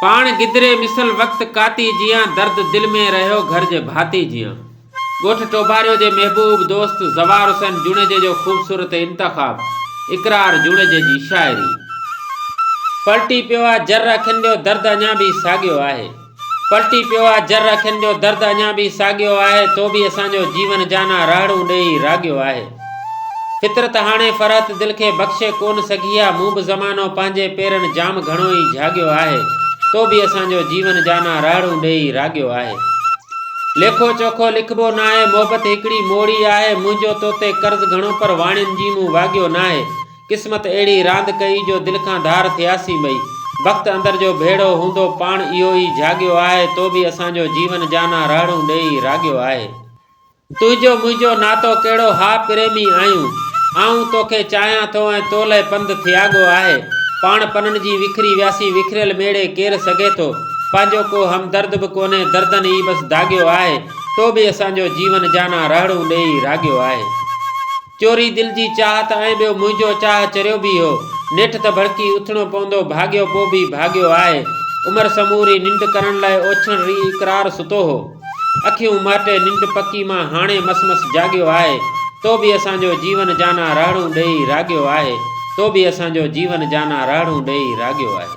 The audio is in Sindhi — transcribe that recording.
پاڻ گدري مثل وقت ڪاتي جيان درد دل ۾ رهيو گهر جي ڀاتي جيان ڳوٺ ٽوڀاريو جي محبوب دوست زوار حسين جوڻيجي جو خوبصورت انتخاب اقرار جوڻيجي جي شاعري پلٽي پيو آ جر اکين جو درد اڃا به ساڳيو آهي پلٽي پيو آ جر اکين جو درد اڃا به ساڳيو آهي تو به اسان جو جيون جانا راهڙون ڏيئي راڳيو آهي. فطرت هاڻي فرحت دل کي بخشي ڪونه سگهي ها، مون به زمانو پنهنجي پيرن جام گهڻو ئي جهاڳيو آهي، تو به اسان جو جيون جانان رهڙون ڏيئي راڳيو آهي. ليکو چوکو لکبو ناهي، محبت هڪڙي موڙي آهي، منهنجو تو تي قرض گهڻو پر واڻين جي مون واڳيو ناهي، قسمت اهڙي راند ڪئي جو دل کان ڌار ٿياسين ٻئي، بخت اندر جو ڀيڙو هوندو پاڻ اهو ئي جهاڳيو آهي، تو به اسان جو جيون جانان رهڙون ڏيئي راڳيو آهي. تنهنجو منهنجو ناتو ڪهڙو ها پريمي آهيون آئون توکي چاهيان ٿو ۽ تو لئه پنڌ ٿياڳو آهي پاڻ پنن جي وکري وياسين وکريل ميڙي ڪير سگهي ٿو پنهنجو ڪو همدرد به ڪونهي دردن ئي بس داڳيو آهي تو به اسان جو جيون جانان رهڙون ڏيئي راڳيو آهي. چوري دل جي چاهت ۽ ٻيو منهنجو چاهه چريو به هو. نيٺ ته ڀڙڪي اٿڻو پوندو ڀاڳيو پوء به ڀاڳيو آهي. عمر سموري ننڊ ڪرڻ لاء اوڇڻ ري اقرار ستو هو. اکيون مهٽي ننڊ پڪي مان هاڻي مس مس جاڳيو آهي. تو به اسان جو جيون جانا رهڙون ڏيئي راڳيو آهي. تو به اسان جو جيون جانا رهڙون ڏيئي راڳيو آهي.